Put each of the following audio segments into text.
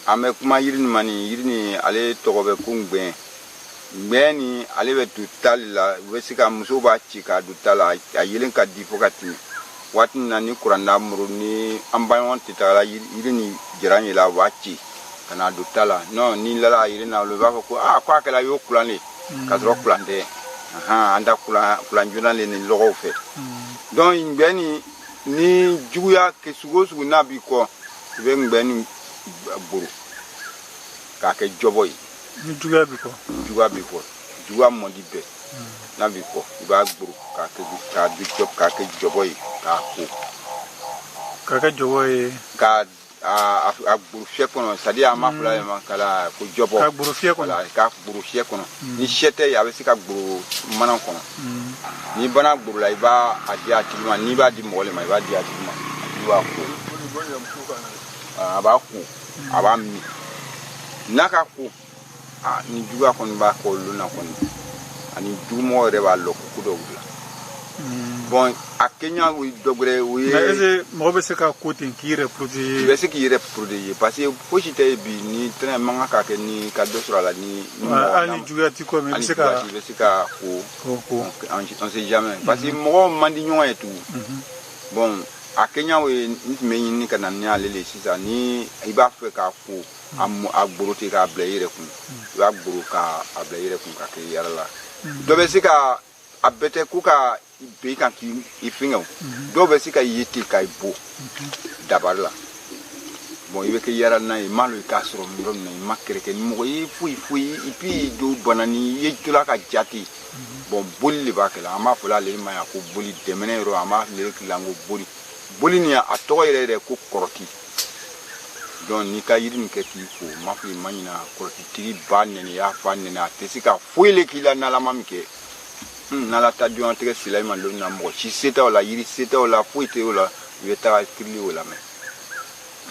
an bɛ kuma yiri nin ma nin yiri nin ale tɔgɔ bɛ ko ngbɛn ngbɛn nin ale bɛ don ta le la u bɛ se ka muso b'a ci k'a don ta la a yeelen ka di fo ka tɛmɛ waati min na ni kuranda muru ni an baɲɔgɔn tɛ tagala yiri nin jaran ye la u b'a ci ka n'a don ta la non ni lala a yelen na olu b'a fɔ ko aa ko a kɛra y'o kulan le ka sɔrɔ kulan tɛ an ta kulan joona le ni lɔgɔw fɛ donc ngbɛn nin ni juguya kɛ sugu o sugu n'a b'i kɔ i bɛ ngbɛn nin gboro k'a kɛ jɔbɔ ye ni juguya b'i kɔ juguya b'i kɔ juguya mɔdi bɛɛ n'a b'i kɔ i b'a gboro k'a kɛ k'a di jɔ k'a kɛ jɔbɔ ye k'a ko k'a kɛ jɔbɔ ye k'a a a gburu fiyɛ kɔnɔ sadi a ma fila yɛrɛ ma kala ko jɔbɔ k'a gboro fiyɛ kɔnɔ k'a gboro fiyɛ kɔnɔ ni fiyɛ tɛ ye a bɛ se ka gboro manan kɔnɔ n'i banna gborola i b'a a di a tigi ma n'i b'a di mɔgɔ le ma i b'a di a tigi ma a tigi b'a ko a b'a ko a b'a min n'a ka ko ni juguya kɔni b'a kɔ o lon na kɔni ani jugumɔgɔ yɛrɛ b'a lɔ ko ko dɔ b'i la bon a kɛɲa o ye dɔ gbɛrɛ o ye mais est mɔgɔ bɛ se ka ko ten k'i yɛrɛ protéger i bɛ se k'i yɛrɛ protéger parce que fosi tɛ ye bi ni tɛnɛ man kan ka kɛ ni ka dɔ sɔrɔ a la ni hali ni juguya t'i kɔ mais i bɛ se ka i bɛ se ka ko ko ko on sait jamais mhm. parce que mɔgɔw man di ɲɔgɔn ye tugun mhm. bon a kɛɲa o ye n tun bɛ ɲini ka na ni ale le sisan ni i b'a fɛ k'a ko mhm. a gboro ten k'a bila i yɛrɛ kun i b'a gboro k'a bila i yɛrɛ kun ka kɛ yaara la dɔ bɛ se ka a bɛɛ tɛ ko ka ben i kan k'i i fɛngɛ o dɔw bɛ se ka ye ten ka i bon dabari la bon i bɛ kɛ yara n'a ye i m'a lɔ i k'a sɔrɔ yɔrɔ min na i ma kɛrɛ kɛ ni mɔgɔ ye foyi foyi et puis dɔ bana ni i ye tola ka ja ten bon boli le b'a kɛla an b'a fɔla ale ma yan ko boli dɛmɛnɛ yɔrɔ an b'ale le kila ko boli boli ni a tɔgɔ yɛrɛ yɛrɛ ko kɔrɔti donc n'i ka yiri nin kɛ k'i ko ma fɔ i ma ɲina kɔrɔtitigi ba nɛni y'a fa nɛni a tɛ se k'a foyi le k'i la n'ala ma min kɛ hmm, n'ala ta jɔnya tɛgɛ sila i ma lonni na mɔgɔ si se tɛ o la yiri se tɛ o la foyi tɛ o la i bɛ taga kili o lamɛn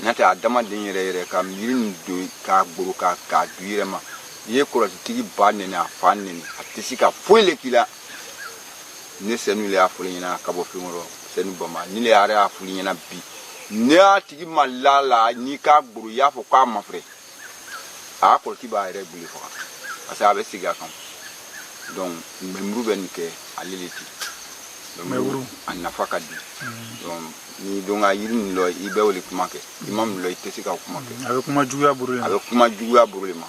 n'o tɛ adamaden yɛrɛ yɛrɛ ka yiri nin don k'a gboro k'a k'a di i yɛrɛ ma i ye kɔrɔtitigi ba nɛni a fa nɛni a tɛ se ka foyi le k'i la ne sɛnu le y'a fɔl'i ɲɛna ka bɔ fɛn kɔrɔ sɛnu bama ni le yɛrɛ y'a fɔl'i ɲɛna bi ne y'a tigi ma lala n'i k'a gboro i y'a fɔ k'a mafrɛ a kɔrɔti b'a yɛrɛ gbu le faga parce que a bɛ segi a kan donc ngbɛn buru bɛ nin kɛ ale le ti ngbɛn buru a nafa ka di donc n'i don ka yiri min lɔ i bɛ o le kuma kɛ i ma min lɔ i tɛ se ka kuma kɛ a bɛ kuma juguya buru le ma a bɛ kuma juguya buru le ma